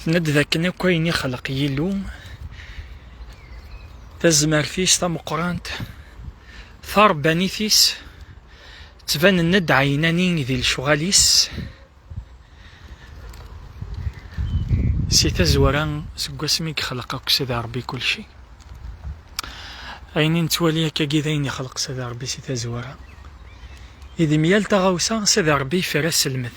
Tenna-d dakken akk ayen ixleq Yillu, tazmert-is tameqqrant, tarebbanit-is, ttbanen-d ɛinani di lecɣal-is. Si tazwara, seg wasmi i yexleq akk Sidi Rebbi kulci. Ayen i nettwali akkagi d ayen ixleq Sidi Rebbi si tazwara. I di myal taɣawsa, Sidi Rebbi yefra sselmed.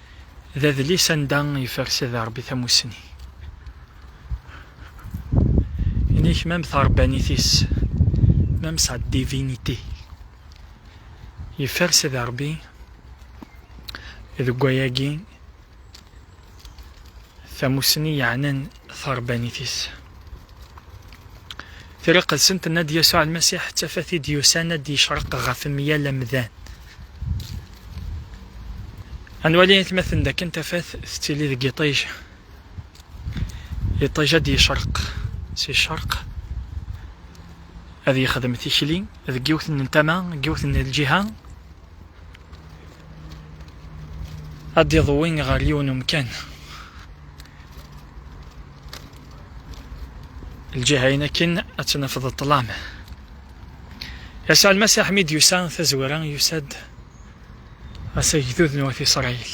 d adlis anda yeffer Sidi Ṛebbi tamussni. Inik même taṛebbanit-is, même sa divinité, yeffer Sidi Ṛebbi deg wayagi tamussni yeɛnan taṛebbanit-is. Triqt-sent n Ad Yasuɛ Lmasiḥ d tafat i d-yusan ad d-yecreq ɣef myal amdan. Ad nwali aytmaten dakken tafat tettili deg yiṭij. Iṭij ad d-yecreq si ccerq, ad yexdem tikli deg yiwet n tama, deg yiwet n lǧiha, ad d-iḍwi ɣer yiwen umkan lǧiha-in akken ad tnafeḍ ṭlam yasɛel Masiḥ mi d-yusa tazwara yusa-d ɣas agdud n wat Isṛayil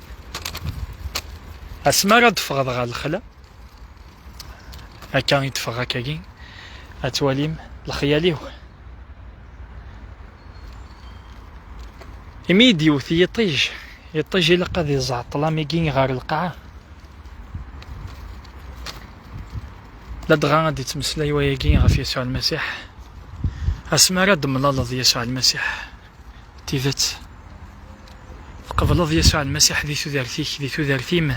asmi ara d-teffɣeḍ ɣer lexla akka i d-teffeɣ akkagi ad twalim lexyal-iw imi i d-yewwet yiṭij yiṭij ilaq ad iẓeɛ ṭlam-agi ɣer lqaɛa ladɣa ad d-ittmeslay wayagi ɣef Yasuɛ Lmasiḥ asmi ara d-temlaleḍ Yasuɛ Lmasiḥ D tidet, tqebleḍ Yasuɛ Lmasiḥ di tudert-ik, di tudert-im?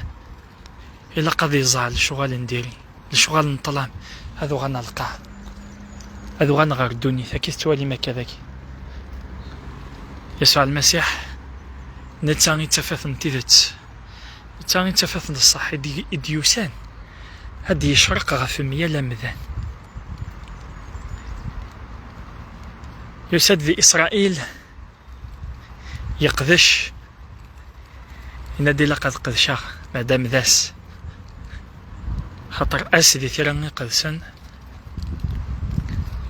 Ilaq ad iẓer lecɣal n diri, lecɣal n ṭṭlam, ad uɣalen ɣer lqaɛa, ad uɣalen ɣer ddunit, akka i tettwalim akka dagi. Yasuɛ Lmasiḥ, netta i d tafat n tidet. D ta i d tafat n ṣṣeḥ i d-yusan ad d-yecreq ɣef mya l amdan. Yusa-d di Isṛail, yeqdec, yenna-d ilaq ad qedceɣ, maɛdam d ass. Xaṭer ass di tira iqedsen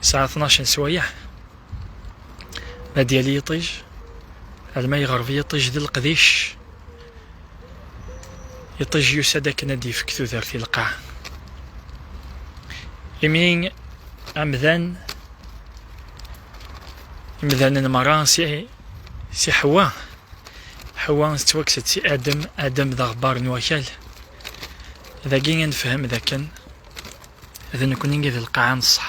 yesɛa tnac n sswayeɛ. ma d yali yiṭij alma yeɣreb yiṭij d leqdic yiṭij yusa-d akken ad yefk tudert i lqaɛ imi amdan imdanen merra si si ḥwa ḥwa tettwakkes-d si adem adem d aɣebbar n wakal dagi ad nefhem d akken d nekkni i d lqaɛa n ṣṣeḥ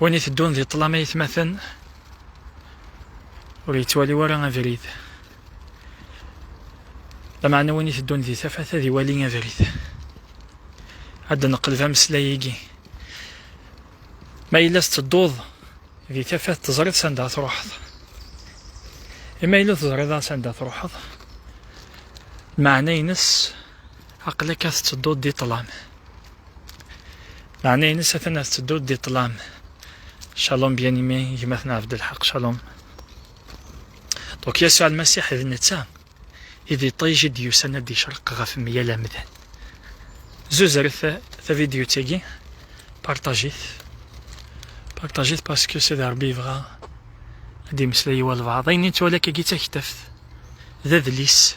Win iteddun di ṭṭlam aytmaten ur yettwali wara abrid. Lameɛna win iteddun di tafat ad iwali abrid. Ad d-neqleb ameslay-agi. Ma yella tettedduḍ di tafat teẓriḍ sanda truḥeḍ. Ima yella teẓriḍ sanda truḥeḍ, meɛna-ines Aql-ak ad tettedduḍ di ṭṭlam. Meɛna-ines atan ad tettedduḍ di ṭṭlam. Shalom bien aimé, gma-ten Abdelhaq, shalom. Donc Yasuɛ Lmasiḥ d netta i d iṭij i d-yusan ad d-yecreq ɣef meyal amdan. Zuzret tavidyut-agi, partajit. Partajit parce que c'est Rebbi yebɣa ad d-yemmeslay i walbaɛḍ. Ayen i nettwali akka-agi d taktaft, d adlis,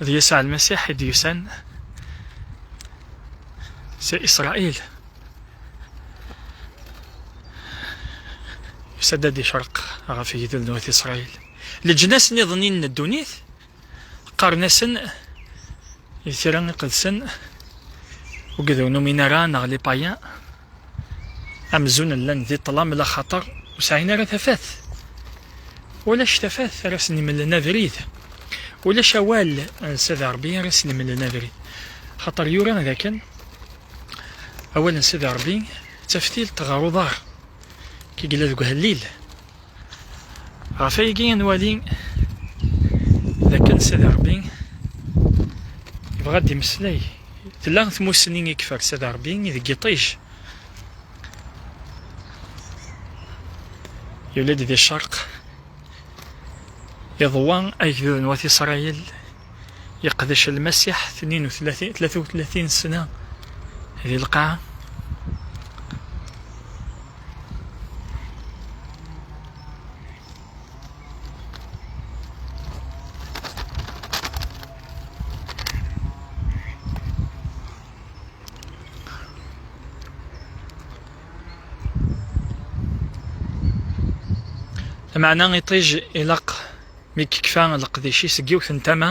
D Yasuɛ Lmasiḥ i d-yusan si Isṛail. Yusa-d ad d-icreq ɣef igduden n Wat Isṛail. Leǧnas niḍen-in n ddunit qqaren-asen di tira iqedsen ugduden uminara neɣ les païens. Amzun llan di ṭṭlam laxaṭer ur sɛin ara tafat. Ulac tafat ara sen-imlen abrid. Ulac awal n Sidi Ṛebbi ara sen-imlen abrid. Xaṭer yura dakken awal n Sidi Ṛebbi d taftilt ɣer uḍar, kegla deg uhellil. ɣef aygi i nwali d akken Sidi Ṛebbi yebɣa ad d-imeslay tella tmussni i yeffer Sidi Ṛebbi i deg iṭij yuli-d di ccerq iḍwa agdud n wat Isṛayil yeqdec lmasiḥ tnin u tlatin tlata u tlatin sna di lqaɛa Lameɛna iṭij ilaq mi yekfa leqdic-is seg yiwet n tama.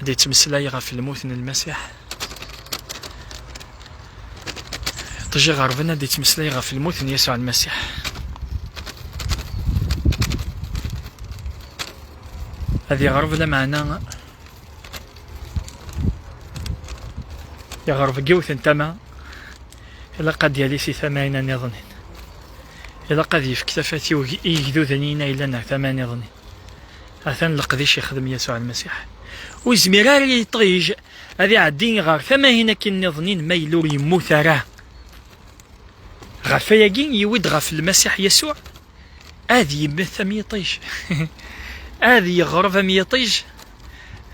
ad yettmeslay ɣef lmut n Lmasiḥ. Ṭij iɣerben ad yettmeslay ɣef lmut n Yasuɛ Lmasiḥ. Ad yeɣreb lameɛna yeɣreb deg yiwet n tama ilaq ad yali si tama-ina niḍen. Ilaq ad yefk tafat i yigduden-ina yellan ar tama niḍen. Atan leqdic yexdem Yasuɛ Lmasiḥ. Ur yezmir ara yiṭij ad iɛeddi ɣer tamahin akin nniḍen ma yella ur yemmut ara. Ɣef ayagi yiwi-d ɣef Lmasiḥ Yasuɛ ad yemmet am yiṭij, ad yeɣreb am yiṭij,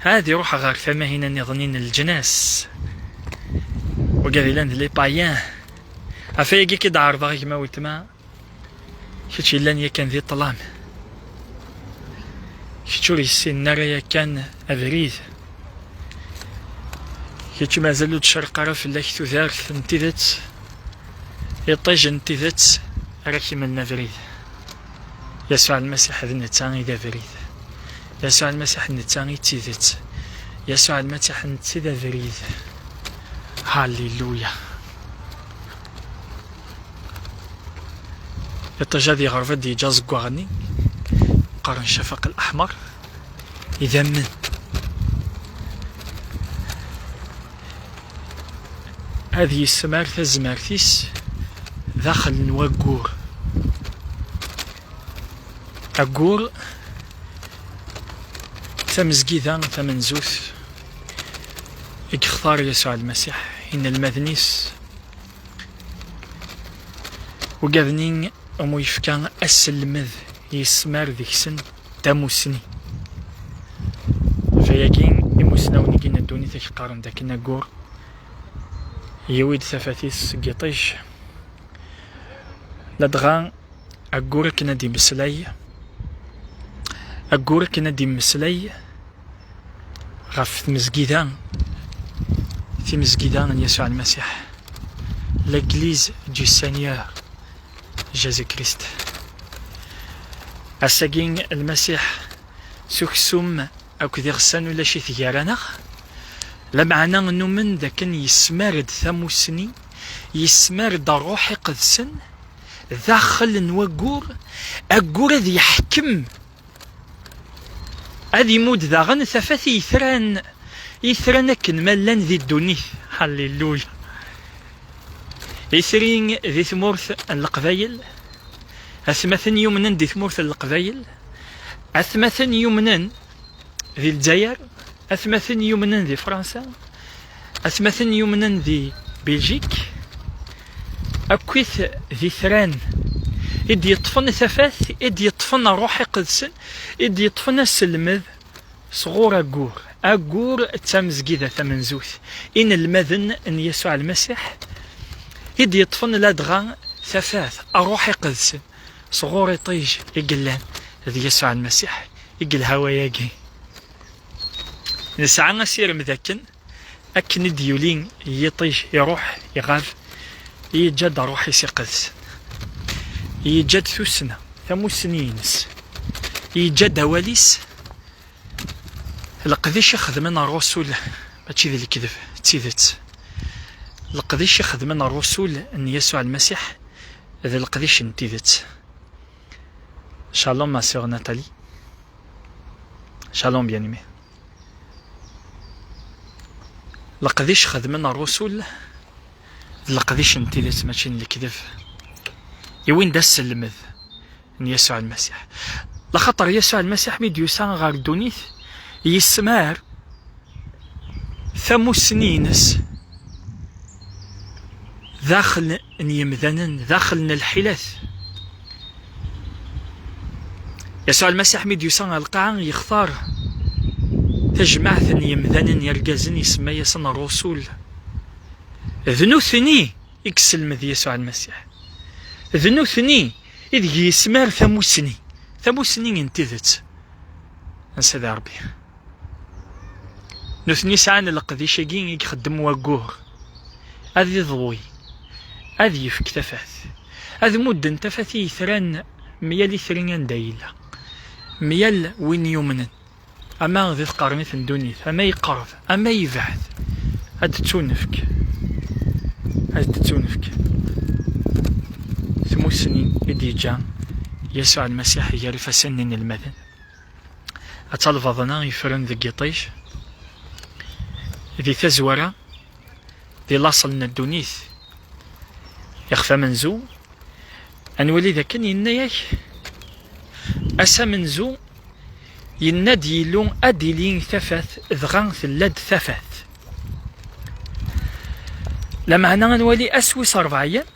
ad iruḥ ɣer tamahin nniḍen n leǧnas. Wagi ad ilan d lipayen. Ɣef ayagi k-id-ɛerḍeɣ gma weltma. Kečč yellan yakan di ṭṭlam. Kečč ur yessinen ara yakan abrid. Kečč mazal ur d-tcerq ara fell-ak tudert n tidet. Iṭij n tidet ara k-imlen abrid. Yasuɛ Lmasiḥ d netta i d abrid. Yasuɛ Lmasiḥ d netta i d tidet. Yasuɛ Lmasiḥ d netta i d abrid. Haliluya! iṭij ad yeɣreb ad yeǧǧ aẓeggaɣ-nni qqaren cafaq al-aḥmer idammen ad yessemar tazmert-is daxel n waggur aggur tamezgida tamenzut i yextar Yasuɛ Lmasiḥ inelmaden-is Ugaden-i umu yefka aselmed yesmar deg-sen tamusni. Fayagi imusnawen i gin ddunit ak qqaren d akken ayyur yiwi-d tafat-is seg yiṭij. Ladɣa ayyur akken ad d-imeslay ayyur akken ad d-imeslay ɣef tmezgida timezgida n Yasuɛ Lmasiḥ L'Église du Seigneur Jésus-Christ Ass-agi Lmasiḥ s uksum akked iɣsan ulac-it gar-aneɣ lameɛna nnumen d akken yesmar-d tamussni yesmar-d ṛṛuḥ iqedsen daxel n waggur aggur ad yeḥkem Ad imudd daɣen tafat i yitran, itran akken ma llan di ddunit. Halleluya! Itri di tmurt n Leqbayel, atmaten yumnen di tmurt n Leqbayel, atmaten yumnen di Lezzayer, atmaten yumnen di Fransa, Atmaten yumnen di Biljik akkit d itran i d-yeṭṭfen i tafat, i d-yeṭṭfen rruḥ iqedsen, i d-yeṭṭfen aselmed sɣur Agur. Agur d tamezgida tamenzut, inelmaden n Yasuɛ Lmasiḥ, i d-yeṭṭfen ladɣa tafat, rruḥ iqedsen, sɣur iṭij i yellan d Yasuɛ Lmasiḥ i yelha wayagi. Nesɛa asirem d akken akken i d-yuli yiṭij iruḥ iɣab yeǧǧa-d ṛṛuḥ-is iqeddes, yeǧǧa-d tussna tamussni-ines, yeǧǧa-d awal-is, leqdic i xedmen ṛṛusul mačči d lekdeb d tidet, leqdic i xedmen ṛṛusul n Yasuɛ Lmasiḥ d leqdic n tidet. Shalom ma sœur Nathalie. Shalom bien-aimé. Leqdic xedmen rrusul d leqdic n tidet mačči n lekdeb i win d asselmed n Yasuɛ Almasiḥ. Laxaṭer Yasuɛ Almasiḥ mi d-yusa ɣer ddunit yessemɛer tamussni-ines daxel n yemdanen daxel n lḥilat. Yasuɛ Lmasiḥ mi d-yusa ɣer lqaɛa, yextar tajmaɛt n yemdanen irgazen, isemma-yasen rrusul. D nutni i yesselmed Yasuɛ Lmasiḥ. D nutni ideg yesmar tamussni, tamussni n tidet n Sidi Ṛebbi. nutni sɛan leqdic-agi i ixeddem waggur ad iḍwi ad yefk tafat ad mudden tafat i yetran myal itri anda yella myal win yumnen ama di tqernit n ddunit ama yeqreb ama yebɛed ad d-ttunefk ad d-ttunefk tmussni i d-yeǧǧa Yasuɛ Lmasiḥ gar ifassen n inelmaden. Atta lbaḍna yefren deg yiṭij, di tazwara, di laṣel n ddunit. Ixef amenzu, ad nwali d akken yenna-ak, ass amenzu, yenna-d Yillu ad d-ili tafat, dɣa tella-d tafat. Lameɛna ad nwali ass wis ṛebɛa-yan,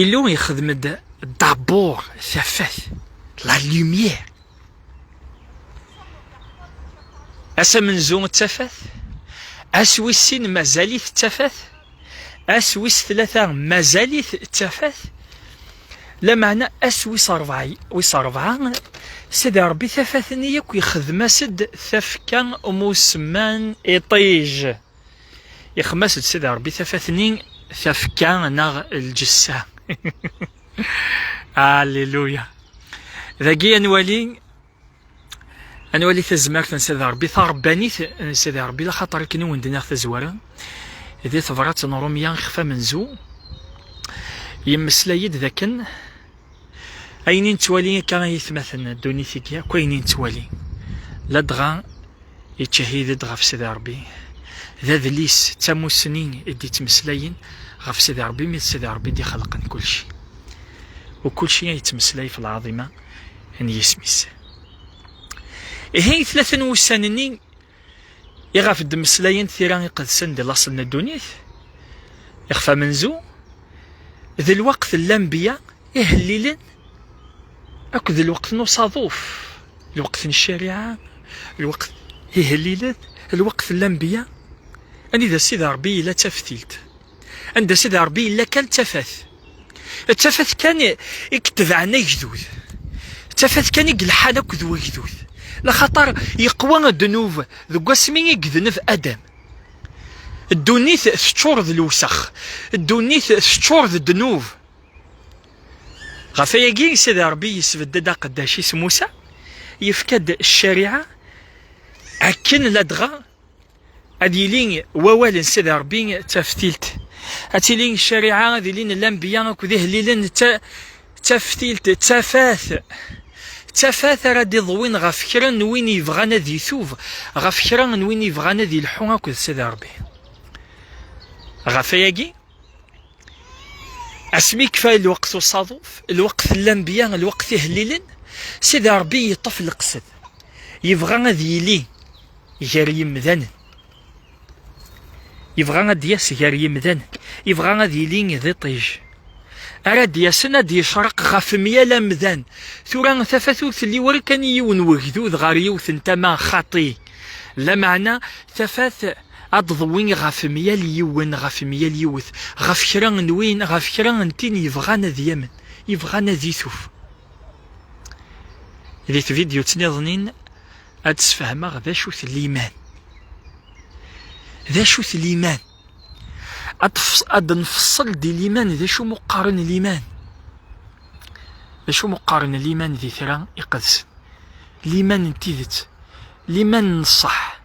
Illu yexdem-d dabur tafat la lumière ass amenzu d tafat ass wis sin mazal-it d tafat ass wis tlata mazal-it d tafat lameɛna ass wis rebɛa wis rebɛa sidi rebbi tafat-nni akk yexdem-as-d tafekka umusemman iṭij Ixmas-d Sidi Ṛebbi tafat-nni, tafekka neɣ lǧessa. Alléluia. Dagi ad nwali ad nwali tazmert n Sidi Ṛebbi, taṛebbanit n Sidi Ṛebbi, laxaṭer akken i wen-d-nniɣ tazwara, di tebṛat n Ṛumya ixef amenzu, yemmeslay-d d akken Ayen i nettwali akka ay itmaten ddunit-agi akk ayen i nettwali ladɣa yettcahid-d ɣef Sidi Ṛebbi d adlis d tamussni i d-yettmeslayen ɣef Sidi Ṛebbi mi d Sidi Ṛebbi i d-ixelqen kulci u kulci ay yettmeslay ɣef lɛaḍima n yisem-is. Ihi tlata n wussan-nni i ɣef d-mmeslayent tira iqedsen di laṣel n ddunit, ixef amenzu, d lweqt n lanbiya ihellilen akked d lweqt n usaḍuf, lweqt n ccariɛa, lweqt ihellilen, lweqt n lanbiya, anida Sidi Ṛebbi yella d taftilt, anda Sidi Ṛebbi yella kan d tafat. D tafat kan i itebɛen agdud, d tafat kan i ilḥan akked wegdud, laxaṭer yeqwa ddnub deg wasmi i idneb Adam. Ddunit teččur d lewsex, ddunit teččur d ddnub. Ɣef wayagi, Sidi Ṛebbi yesbedd-d aqeddac-is Musa, yefka-d ccariɛa akken ladɣa ad yili wawal n Sidi Ṛebbi d taftilt, ad tili ccariɛa, ad ilin lanbeyya akked ihellilen d taftilt, d tafat, d tafat ara d-iḍwin ɣef kra n win yebɣan ad itub, ɣef kra n win yebɣan ad ilḥu akked Sidi Ṛebbi. Ɣef wayagi, asmi kfa lweqt usaḍuf lweqt llambiya lweqt ihellilen sida rebbi yeṭṭef leqsed yebɣa ad yili gar yimdanen yebɣa ad d-yas gar yimdanen yebɣa ad yili d iṭij ara d-yasen ad d-yecreq ɣef myal amdan tura tafat ur telli wara kan i yiwen wegdud ɣer yiwet n tama xaṭi lameɛna tafat Ad d-tḍewwi ɣef myal yiwen, ɣef myal yiwet, ɣef kra n win, ɣef kra n tin yebɣan ad yamen, yebɣan ad ituf. Di tvidyut-nniḍen-in, ad d-sfehmeɣ d acu-t liman. D acu-t liman? Ad d-nfeṣṣel di liman d acu muqqaren liman. D acu muqqaren liman di tira iqedsen. Liman n tidet, liman n ṣṣeḥ.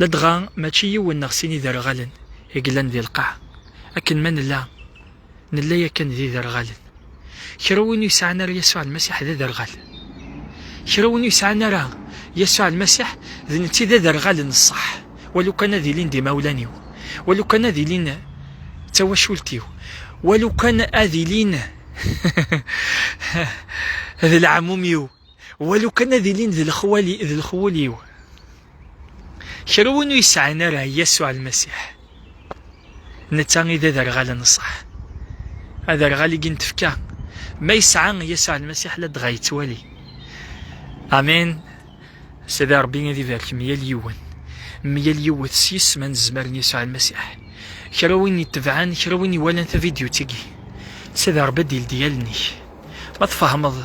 Ladɣa mačči yiwen neɣ sin iderɣalen i yellan di lqaɛa, akken ma nella, nella yakan d iderɣalen. Kra win ur yesɛan ara Yasuɛ Lmasiḥ d aderɣal. Kra win ur yesɛan ara Yasuɛ Lmasiḥ d netta i d aderɣal n ṣṣeḥ, walu kan ad ilin d imawlan-iw, walu kan ad ilin d tawacult-iw, walu kan ad ilin d lɛamum-iw. walu kan ad ilin d lexwali d lexwul-iw. Kra win ur yesɛin ara Yasuɛ Lmasiḥ, netta i d aderɣal n ṣṣeḥ. Aderɣal-igi n tfekka, ma yesɛa Yasuɛ Lmasiḥ ladɣa yettwali. Amin. Sidi Ṛebbi ad ibarek myal yiwen, myal yiwet sys ma nezmer n Yasuɛ Lmasiḥ. Kra win itebɛen, kra win iwalan tavidyut-agi, Sidi Ṛebbi ad d-ildi allen-ik. Ma tfehmeḍ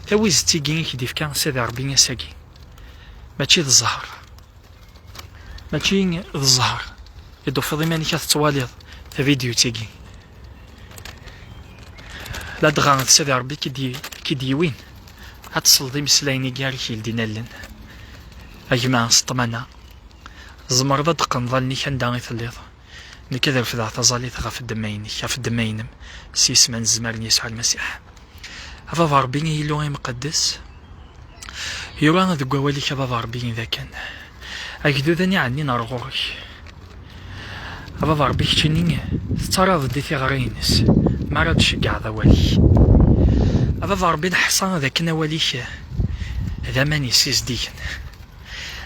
tawizet-igi i k-d-ifka Sidi Ṛebbi ass-agi, mačči d zzheṛ, mačči d zzheṛ i d-tufiḍ iman-ik ad tettwaliḍ tavidyut-agi, ladɣa d Sidi Ṛebbi i k-id-yewwin ad tesleḍ imeslayen-agi ara k-yeldin allen. A gma s ṭṭmana, tzemreḍ ad d-teqqneḍ allen-ik anda i telliḍ. Nekk ad refdeɣ taẓalit ɣef ddemma-inek, ɣef ddemma-inem, s yisem anezmar n Yasuɛ Lmasiḥ. A Baba Ṛebbi, a Illu imqeddes, yura deg wawal-ik, a Baba Ṛebbi, d akken agduden i ɛennin ɣer ɣur-k. A Baba Ṛebbi, keččini tettaraḍ-d i tiɣra-ines mi ara d-tceggɛeḍ awal-ik. A Baba Ṛebbi, neḥṣa d akken awal-ik d aman yessizdigen,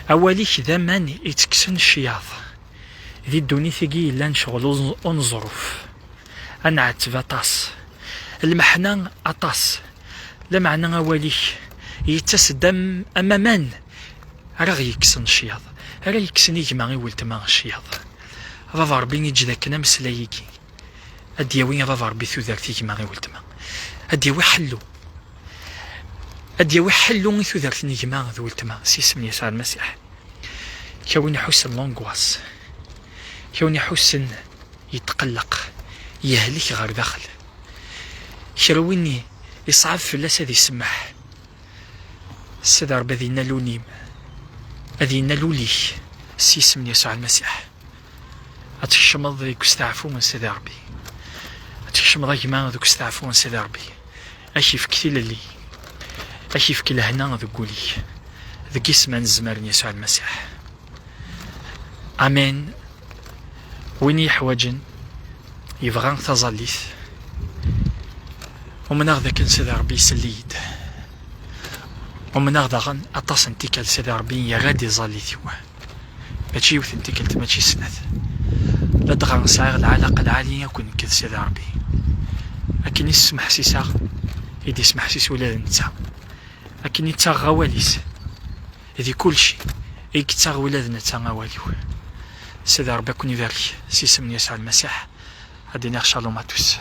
awal-ik d aman ittekksen ccyaḍ. di ddunit-agi yellan ccɣel uneẓruf, ad nɛetteb aṭas, lmeḥna aṭas, lameɛna awal-ik yettas-d am aman ara ɣ-yekksen ccyaḍ, ara yekksen i gma i weltma ccyaḍ. A baba Ṛebbi eǧǧ-d akken ameslay-agi ad d-yawi a baba Ṛebbi tudert i gma i weltma, ad d-yawi ḥellu, ad d-yawi ḥellu i tudert n gma d weltma s isem n Yasuɛ Lmasiḥ. Kra win iḥussen l'angoisse, kra win iḥussen yetqelleq, yehlek ɣer daxel, kra win iṣɛeb fell-as ad isemmeḥ. Sidi Ṛebbi ad innal ul-im, ad innal ul-ik s yisem n Yasuɛ Lmasiḥ. Ad tkecmeḍ deg usteɛfu n Sidi Ṛebbi. Ad tkecmeḍ a gma deg usteɛfu n Sidi Ṛebbi. Ad k-ifk tilelli, ad k-ifk lehna deg wul-ik, deg isem anezmar n Yasuɛ Lmasiḥ. Amen. Win yeḥwaǧen, yebɣa taẓallit, umneɣ d akken Sidi Ṛebbi isell-iyi-d. Umneɣ daɣen aṭas n tikkal Sidi Ṛebbi yerra-d iẓallit-iw. Mačči yiwet n tikkelt, mačči snat. Ladɣa sɛiɣ lɛalaqa lɛali akk nekk d Sidi Ṛebbi. Akken i s-smeḥsiseɣ, i d-ismeḥsis ula d netta. Akken i ttaɣeɣ awal-is, di kulci, i yettaɣ ula d netta awal-iw. Sidi Ṛebbi a ken-ibarek, s isem n Yasuɛ Lmasiḥ, ad d-iniɣ Shalom à tous.